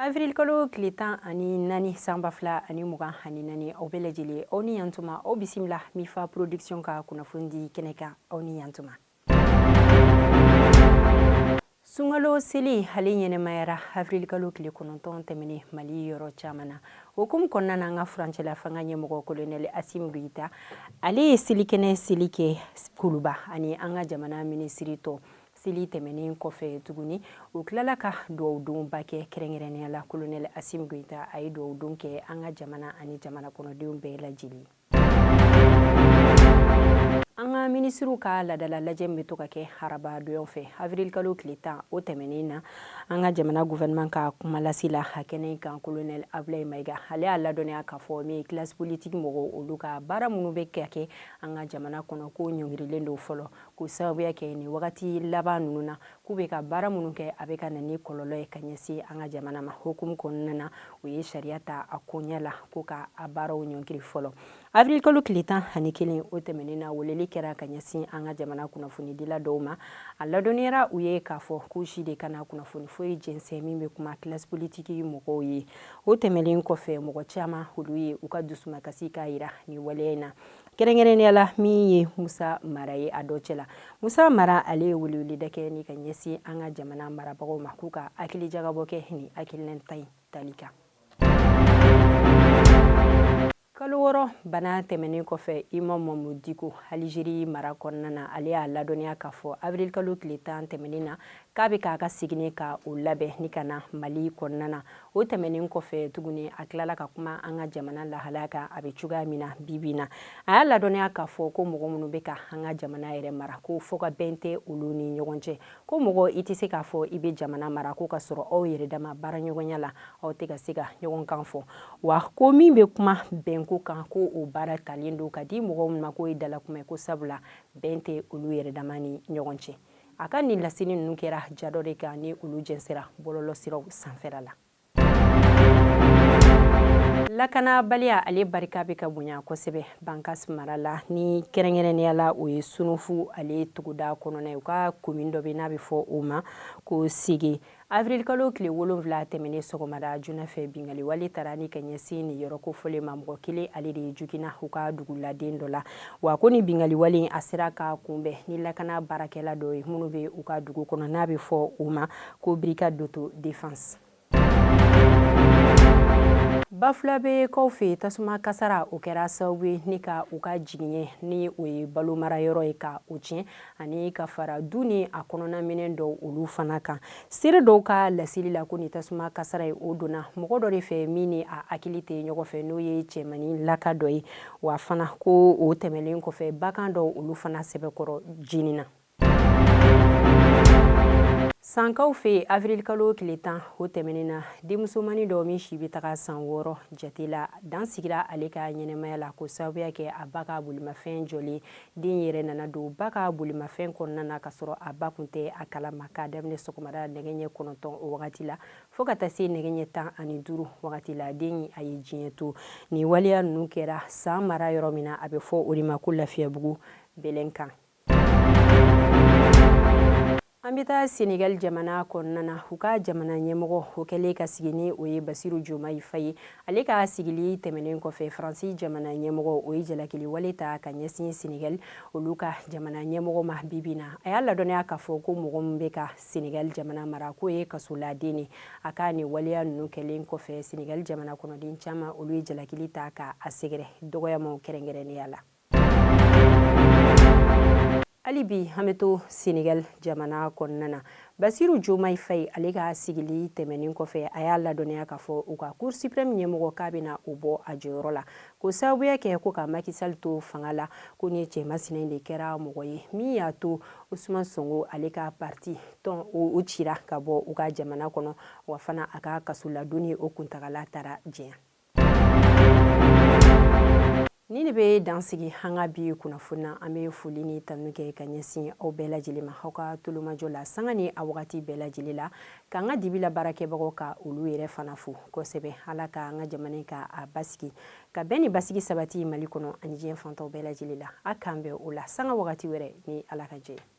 avril-kalo tile tan ani naani san ba fila ani mugan ani naani aw bɛɛ lajɛlen aw ni yantuma aw bisimila mifa production ka kunnafonidi kɛnɛ kan aw ni yantuma sunkalo seli ale ɲɛnamayara avrilkalo tile kɔnɔntɔn tɛmɛnen mali yɔrɔ caman na o hukumu kɔnɔna na an ka furancɛla fanga ɲɛmɔgɔ kolonɛli asimu goyita ale ye selikɛnɛ seli kɛ kuluba ani an ka jamana minisiri tɔw seli tɛmɛnen kɔfɛ tuguni u tilala ka duwawudonba kɛ kɛrɛnkɛrɛnnenya la kolonɛli asimu goyita a ye duwawudon kɛ an ka jamana ani jamana kɔnɔdenw bɛɛ lajɛlen ye an ka minisiriw ka ladala lajɛ min bɛ to ka kɛ haraba donw fɛ avirilkalo tile tan o tɛmɛnen na an ka jamana gouvernement ka kumalasila a kɛnɛ in kan kolonɛli abulayi mayiga ale y'a ladɔnniya k'a fɔ min ye kilasi politiki mɔgɔw olu ka baara minnu bɛ ka kɛ an ka jamana kɔnɔ k'o ɲɔngirilen don fɔlɔ k'o sababuya kɛ nin wagati laban ninnu na k'u bɛ ka baara minnu kɛ a bɛ ka na ni kɔlɔlɔ ye ka ɲɛsin an ka jamana ma hukumu kɔnɔna na u ye sariya ta a koɲɛ la ko ka a baaraw ɲɔngiri fɔlɔ avril kalo tile tan ani kelen o tɛmɛnen na weleli kɛra ka ɲɛsin an ka jamana kunnafonidila dɔw ma a ladɔnniyara u ye k'a fɔ k'u si de kana kunnafoni foyi jɛnsɛn min bɛ kuma kilasi politiki mɔgɔw ye o tɛmɛnen kɔfɛ mɔgɔ caman olu ye u ka dusumakasi k'a jira nin waleya in na kɛrɛnkɛrɛnnenya la min ye musa mara ye a dɔ cɛ la musa mara ale ye weleweleda kɛ ni ka ɲɛsin an ka jamana marabagaw ma k'u ka hakili jagabɔ kɛ nin hakilina ta in tali kan kalo wɔɔrɔ bana tɛmɛnen kɔfɛ imam mamudu diko alizeri mara kɔnɔna na ale y'a ladɔnniya k'a fɔ avril kalo tile tan tɛmɛnen na k'a bɛ k'a ka seginni ka o labɛn ni ka na mali kɔnɔna na O tɛmɛnen kɔfɛ tuguni a tilala ka kuma an ka jamana lahalaya kan a bɛ cogoya min na bibi na a y'a ladɔnniya k'a fɔ ko mɔgɔ minnu bɛ ka an ka jamana yɛrɛ mara ko fɔ ka bɛn tɛ olu ni ɲɔgɔn cɛ ko mɔgɔ i tɛ se k'a fɔ i bɛ jamana mara ko ka sɔrɔ aw yɛrɛ dama baaraɲɔgɔnya la aw tɛ ka se ka ɲɔgɔn kan fɔ wa ko min bɛ kuma bɛnko kan ko o baara talen don ka di mɔgɔ minnu ma k'o ye dalakuma ye ko sabula bɛn tɛ olu yɛrɛ dama ni ɲɔgɔn cɛ a ka nin lasini ninnu kɛra ja dɔ de kan ni olu jɛnsɛra bɔlɔlɔsiraw sanfɛla la lakanabaliya ale barika bɛ ka bonya kosɛbɛ bankas mara la ni kɛrɛnkɛrɛnnenya la o ye sunufu ale tuguda kɔnɔna ye u ka komin dɔ bɛ n'a bɛ fɔ o ma ko sege Avril kalo tile wolonwula tɛmɛnen sɔgɔmada joona fɛ binkaliwale taara ni ka ɲɛsin nin yɔrɔ kofɔlen ma mɔgɔ kelen ale de jogina u ka duguladen dɔ la wa ko ni binkaliwale in a sera ka kunbɛn ni lakana baarakɛla dɔ ye minnu bɛ u ka dugu kɔnɔ n'a bɛ fɔ u ma ko brigade d'autodéfense bafulabɛ kaw fɛ tasuma kasara o kɛra sababu ye ni ka u ka jigiɲɛ ni o ye balo marayɔrɔ ye ka o tiɲɛ ani ka fara du ni a kɔnɔnaminɛn dɔw olu fana kan seere dɔw ka laseli la ko ni tasuma kasara ye o donna mɔgɔ dɔ de fɛ min ni a hakili tɛ ɲɔgɔn fɛ n'o ye cɛmani laka dɔ ye wa fana ko o tɛmɛlen kɔfɛ bagan dɔw olu fana sɛbɛkɔrɔ jenina sankaw fɛ avirilikalo tile tan o tɛmɛnen na denmusomani dɔ min si bɛ taga san wɔɔrɔ jate la dan sigira ale ka ɲɛnamaya la ko sababu y'a kɛ a ba ka bolimafɛn jɔlen Den yɛrɛ nana don ba ka bolimafɛn kɔnɔna na ka sɔrɔ a ba kun tɛ a kala ma k'a daminɛ sɔgɔmada nɛgɛ ɲɛ kɔnɔntɔn o wagati la fo ka taa se nɛgɛ ɲɛ tan ani duuru wagati la den a ye diɲɛ to nin waleya ninnu kɛra san mara yɔrɔ min na a bɛ fɔ o de ma ko lafiyabugu bɛlɛn kan An bɛ taa Senegali jamana kɔnɔna na, u ka jamana ɲɛmɔgɔ, o kɛlen ka sigi ni o ye Basiru Jomayi Fayi ye, ale ka sigili tɛmɛnen kɔfɛ, Faransi jamana ɲɛmɔgɔ, o ye jalakiliwale ta ka ɲɛsin Senegali olu ka jamana ɲɛmɔgɔ ma bi bi in na. A y'a ladɔnniya k'a fɔ ko mɔgɔ min bɛ ka Senegali jamana mara k'o ye kasoladen de ye. A ka nin waleya ninnu kɛlen kɔfɛ, Senegali jamana kɔnɔden caman olu ye jalakili ta ka a sɛgɛrɛ dɔgɔyamaw kɛrɛnkɛrɛnnenya la. hali bi an bɛ to senegal jamana kɔnɔna na basiru jomayi fayi ale ka sigili tɛmɛnin kɔfɛ a y'a ladɔnniya k'a fɔ u ka cour supreme ɲɛmɔgɔ k'a bɛna o bɔ a jɔyɔrɔ la ko sababu y'a kɛ ko ka maki sal to fanga la ko ni cɛmasina in de kɛra mɔgɔ ye min y'a to usman sonko ale ka parti tɔn o cira ka bɔ u ka jamana kɔnɔ wa fana a ka kasoladonni o kuntagala taara janya Nin de bɛ dan sigi an ka bi kunnafoni na an bɛ foli ni tanu kɛ ka ɲɛsin aw bɛɛ lajɛlen ma aw ka tulomajɔ la sanga ni a wagati bɛɛ lajɛlen la k'an ka dibi la baarakɛbagaw ka olu yɛrɛ fana fo kosɛbɛ ala ka an ka jamana ka a basigi ka bɛn ni basigi sabati mali kɔnɔ ani diɲɛ fan tɔw bɛɛ lajɛlen la a k'an bɛn o la sanga wagati wɛrɛ ni ala ka jɛ